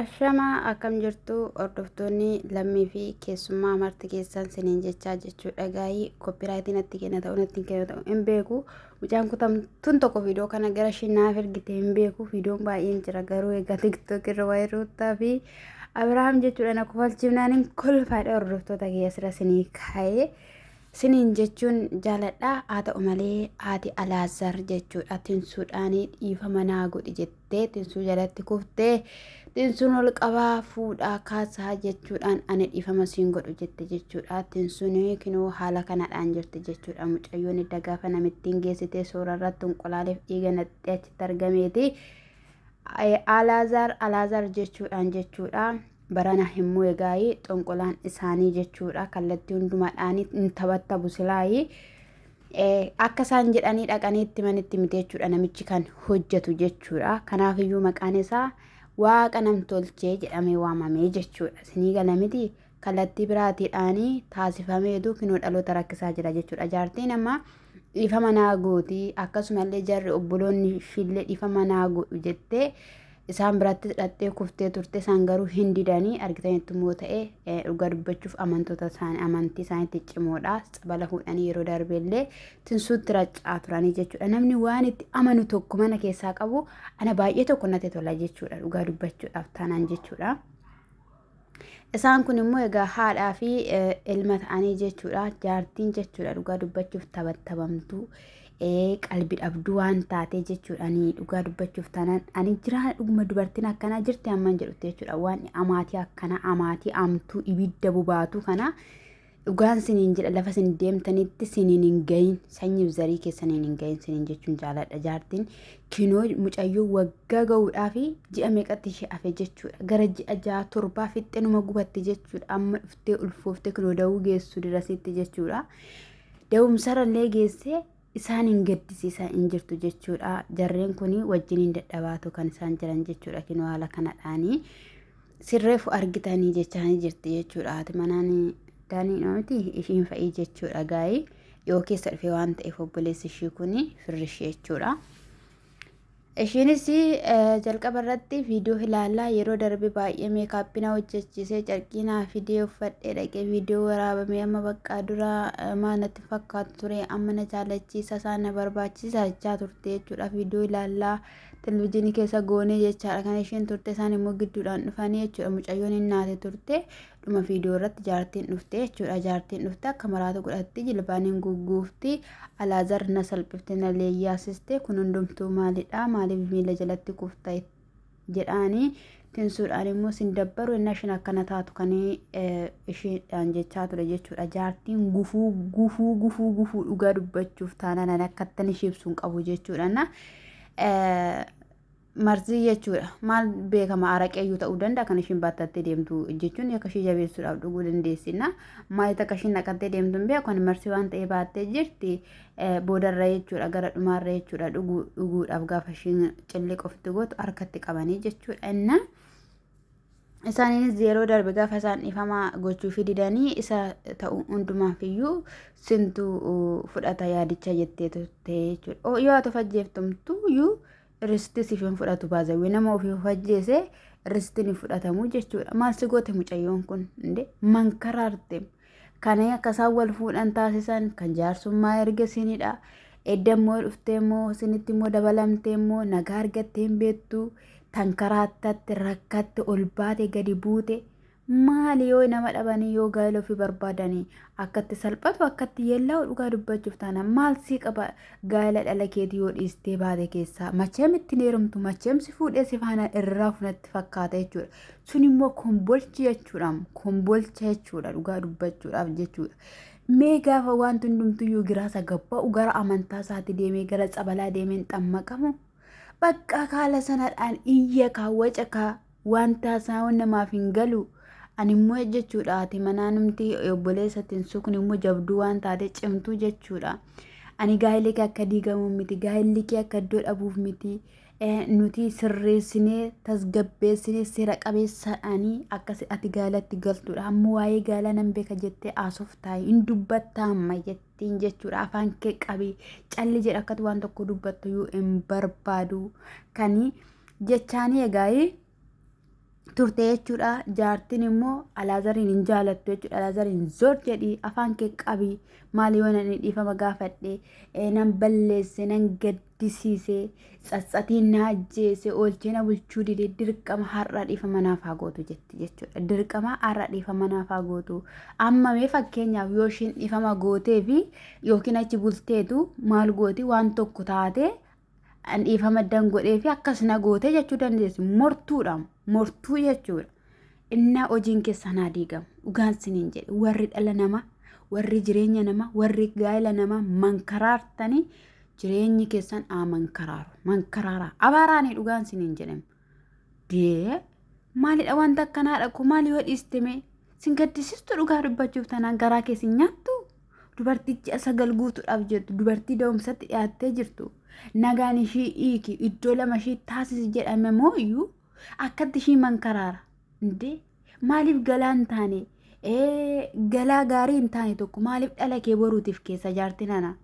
Ashamaa akkam jirtu hordoftoonni lammii fi keessummaa marti keessan siniin jechaa jechuu dhagaayii koppiraayitii natti kenna ta'u natti kenna ta'u hin beeku mucaan kutamtuun tokko viidiyoo kana gara ishee naaf ergite hin beeku viidiyoon baay'een jira garuu egaa tiktook irra waa'ee ruuttaa fi abirahaam jechuudha na kofalchiifnaan hin kolfaadha hordoftoota keessira sinii kaa'ee Siniin jechuun jaaladha haa ta'u malee haati Alaazar jechuudha tinsuudhaan dhiifama naa godhi jettee tinsuu jalatti kuftee tinsuun ol qabaa fuudhaa kaasaa jechuudhaan ani dhiifama siin godhu jette jechuudha tinsuun kinoo haala kanadhaan jirti jechuudha mucayyoon idda gaafa namittiin geessitee soora irratti unqulaaleef dhiiga naqxee achitti argameeti Alaazar Alaazar jechuudhaan jechuudha. Barana hin mo'e gaayi xonqolaan isaanii jechuudha kallattii hundumaadhaan hin tabattabu silaayi. Akka isaan jedhanii dhaqanii itti manitti miti jechuudha namichi kan hojjetu jechuudha. Kanaaf iyyuu maqaan isaa waaqa namtolchee jedhamee waamamee jechuudha. Sinii gala miti kallattii biraatiidhaanii taasifameetu kinoo dhaloota rakkisaa jira jechuudha. Jaartiin amma dhiifama naa gooti akkasumallee jarri obboloonni ishiillee dhiifama naa godhu jettee Isaan biratti dhaqxee kuftee turte isaan garuu hin didanii argitanitti immoo ta'e dhugaa dubbachuuf amantoota isaanii amantii isaaniitti cimoodha tsabala fuudhanii yeroo darbe illee tinsuutti raccaa turanii jechuudha namni waan itti amanu tokko mana keessaa qabu ana baay'ee tokko natti tola jechuudha dhugaa dubbachuudhaaf taanaan jechuudha. Isaan kun immoo egaa haadhaa fi ilma ta'anii jechuudha. Jaartiin jechuudha dhugaa dubbachuuf tabattabamtuu qalbi dhabduu waan taatee jechuudha. Ani dhugaa dubbachuuf taanaan ani jiraa dhuguma dubartiin akkanaa jirti amman jedhutti jechuudha. Waan amaatii akkanaa amaatii amtuu ibidda bobaatuu kanaa Dhugaan siniin jedha lafa sin deemtanitti siniin hin gahin sanyiif zarii keessaniin hin gahin siniin jechuun jaaladha jaartiin kinoo mucayyoo waggaa ga'uudhaa fi ji'a meeqatti ishee hafe jechuudha gara ji'a ja'a torbaa fixxee numa gubatte jechuudha amma dhuftee ulfooftee kinoo da'uu geessu dirasitti jechuudha da'umsarallee geessee isaan hin gaddisiisaa hin jirtu jechuudha. Jarreen kun wajjin hin dadhabaatu kan isaan jiran jechuudha. Kinoo haala kanadhaanii sirreefu argitanii jechaanii jirti jechuudha. Haati manaan daanii miti ishiin fa'ii jechuudha gaa'ii dhiyoo keessa dhufe waan ta'eef obboleessi ishii kun firri ishii jechuudha. Ishiinis jalqaba irratti viidiyoo ilaalaa yeroo darbe baay'ee meekaappii na hojjechiisee carqii naa fidee uffadhee dhaqee viidiyoo waraabamee amma baqqaa dura maa natti fakkaatu ture amma na jaalachiisa isaa na barbaachisa jechaa turte jechuudha viidiyoo ilaalaa televizyiinii keessa goonee jechaadha kan isheen turte isaan immoo gidduudhaan dhufanii jechuudha mucayyoon hin naate turte dhuma viidiyoo irratti jaartiin dhufte jechuudha jaartiin dhufte akka maraatu godhatti jilbaan hin gugguufti alaazar na salphifte na leeyyaasiste kun hundumtuu maalidha maaliif miila jalatti kufta jedhaanii tinsuudhaan immoo sin dabbaru inni ishin akkana taatu kan ishiidhaan jechaa ture jechuudha jaartiin gufuu gufuu gufuu gufuu dhugaa dubbachuuf taanaan akkattan ishii ibsuun qabu jechuudha na Marzii jechuudha. Maal beekama araqeeyyuu ta'uu danda'a kan ishiin baattattee deemtu jechuun akka ishii jabeessuudhaaf dhuguu dandeessina. Maayita akka ishiin naqattee deemtu hin beeku kan marsii waan ta'ee baattee jirti boodarra jechuudha gara dhumaarra jechuudha dhuguu dhuguudhaaf gaafa ishiin cilliq ofitti gootu harkatti qabanii jechuudha inna. Isaaniinis yeroo darbe gaafa isaan dhiifama gochuufi didanii isa ta'u hundumaaf iyyuu sintu fudhata yaadicha jettee turte jechuudha. Yoo ati of ajjeeftumtu iyyuu Risti siif hin fudhatu baazawee nama ofii of ajjeese ristiin hin fudhatamu jechuudha. Maal si goote mucayyoon kun inde mankaraarte kana akka isaan wal fuudhan taasisan kan jaarsummaa erga sinidha. Edda immoo dhuftee immoo sinitti immoo dabalamtee immoo nagaa argattee hin beektu tankaraatatte rakkatte ol baate gadi buute Maali yoo nama dhabanii yoo gaa'ela ofii barbaadanii akkatti salphatu akkatti yeellaa'u dhugaa dubbachuuf taanaan maal sii qaba gaa'ela dhala keetii yoo dhiistee baate keessaa macheem ittiin heerumtu macheem si fuudhee si faana irraa funatti fakkaata jechuudha. Sun immoo kombolchi jechuudha kombolcha jechuudha dhugaa dubbachuudhaaf jechuudha. Mee gaafa wanti hundumtuyyuu giraasa gabba'u gara amantaa isaatti deemee gara tsabalaa deemeen xammaqamu baqqaa kaala sanadhaan iyya kaa waca kaa waan taasaa waan namaaf hin galu animmoo jechuudha haati manaa numti obboleessatti hin sukne immoo jabduu waan taate cimtuu jechuudha ani gaa'illi kee akka diigamu miti gaa'illi kee akka iddoo dhabuuf miti Eh, nuti sirreessinee tasgabbeessinee seera qabeessaadhaanii akka si- ati gaalatti galtudha ammoo waa'ee gaalaa nan beeka jettee haasoftaa hin dubbattaa amma jette ittiin jechuudha afaan kee qabi calli jedha akkati waan tokko dubbattu iyyuu hin barbaadu kani jechaanii egaa'ee turte jechuudha jaartiin immoo alaazariin hin jaalattu jechuudha alaazariin zor jedhi afaan kee qabi maali yoo nan dhiifama gaafadhe eh, nan balleesse nan gadde gaddisiisee, tsatsatiin na ajjeese, oolchee na bulchuu dide, dirqama har'a dhiifama naaf haa gootu jetti jechuudha. Dirqama har'a dhiifama naaf haa gootu. Amma mee fakkeenyaaf yoo ishiin dhiifama gootee fi yookiin achi bulteetu maal gooti waan tokko taatee an dhiifama dan godhee fi akkas na gootee jechuu dandeessi. Mortuudha. Mortuu jechuudha. Innaa hojiin keessan haa diigamu. Dhugaan siniin jedhe warri dhala namaa, warri jireenya namaa, warri gaa'ela namaa mankaraartanii jireenyi keessan haa mankaraaru. Mankaraaraa. Abaaraanii dhugaan siniin jedhame. Dee maalidha wanta akkanaadha koo maal yoo dhiiste mee sin gaddisistu dhugaa dubbachuuf tanaan garaa kee sin nyaattu dubartii ji'a sagal guutuudhaaf jettu dubartii da'umsatti dhiyaattee jirtu nagaan ishii hiiki iddoo lama ishii taasisi jedhame mooyyuu akkatti ishii mankaraara indee maaliif galaa hin taane galaa gaarii hin taane tokko maaliif dhala kee boruutiif keessa jaarti nana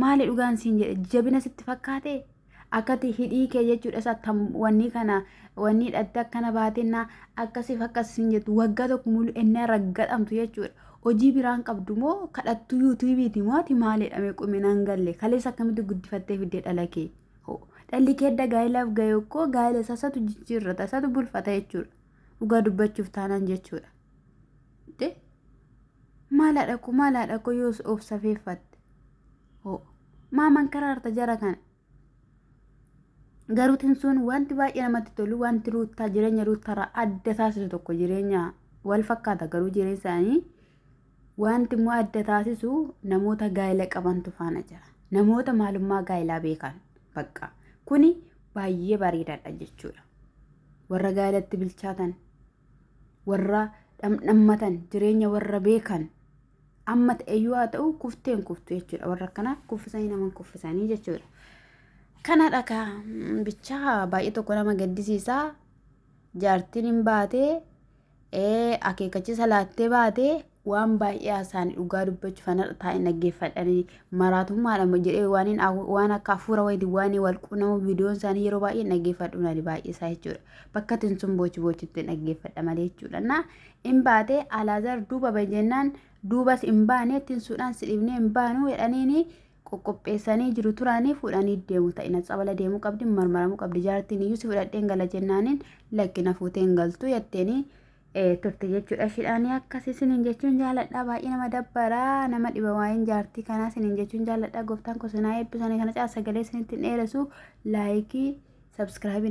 maali dhugaan siin jedhe jabina sitti fakkaate akkati hidhii kee jechuudha isa tam wannii kana wannii dhatte akkana baatennaa akkasiif akkas siin jettu waggaa tokko mulu ennaa raggadhamtu jechuudha hojii biraan qabdu moo kadhattu yuutuubiiti moo ati maalidha mee quminaan galle kaleessa akkamitti guddifattee fiddee dhala kee Ho, dhalli kee edda gaa'ilaaf ga'e koo gaa'ila isaa isatu jijjiirrata, isatu bulfata jechuudha. Dhugaa dubbachuuf taanaan jechuudha. Dee, maal haadha koo, maal haadha koo yoos of safeeffatte. Ho, maaman karaarta jara kana. Garuu tinsuun wanti baay'ee namatti tolu, wanti ruuttaa jireenya ruuttaarraa adda taasisu tokko jireenya wal fakkaata garuu jireenya isaanii Wanti immoo adda taasisu namoota gaa'ila qabantu faana jira. Namoota maalummaa gaa'ilaa beekan bakka. Kuni baay'ee bareedaadha jechuudha. Warra gaa'ilatti bilchaatan, warra dhamdhammatan, jireenya warra beekan amma ta'eyyuu haa ta'u kufteen kuftu jechuudha. Warra akkanaa kuffisanii naman kuffisanii jechuudha. Kanadha kaa bichaa baay'ee tokko nama gaddisiisaa jaartiin hin baatee ee akeekachisa laattee baate waan baay'ee haasa'an dhugaa dubbachuuf an har'a taa'een dhaggeeffadhanii maraatummaadhama jedhee waaniin afu- waan akka hafuura wayiiti waan wal quunamu viidiyoon isaanii yeroo baay'ee dhaggeeffadhu nani baay'ee isaa jechuudha bakka ittiin sun boochi boochitti dhaggeeffadha malee jechuudha na in baate alaazaar duuba bahe jennaan duubas in baane ittiin suudhaan si dhibnee in baanu jedhaniini qoqqopheessanii jiru turaanii fuudhanii deemu ta'ina tsabala deemuu qabdi marmaramuu qabdi jaartiin iyyuu si fudhadheen gala jennaaniin lakki na fuuteen galtuu yatteenii turte jechuudha shidhaanii akkasii siniin jechuun jaaladhaa baay'ee nama dabbaraa nama dhiba waa'een jaartii kanaa siniin jechuun jaaladhaa gooftaan kosinaa eebbisanii kana caa sagalee sinitti hin dheeressu laayikii sabskiraabii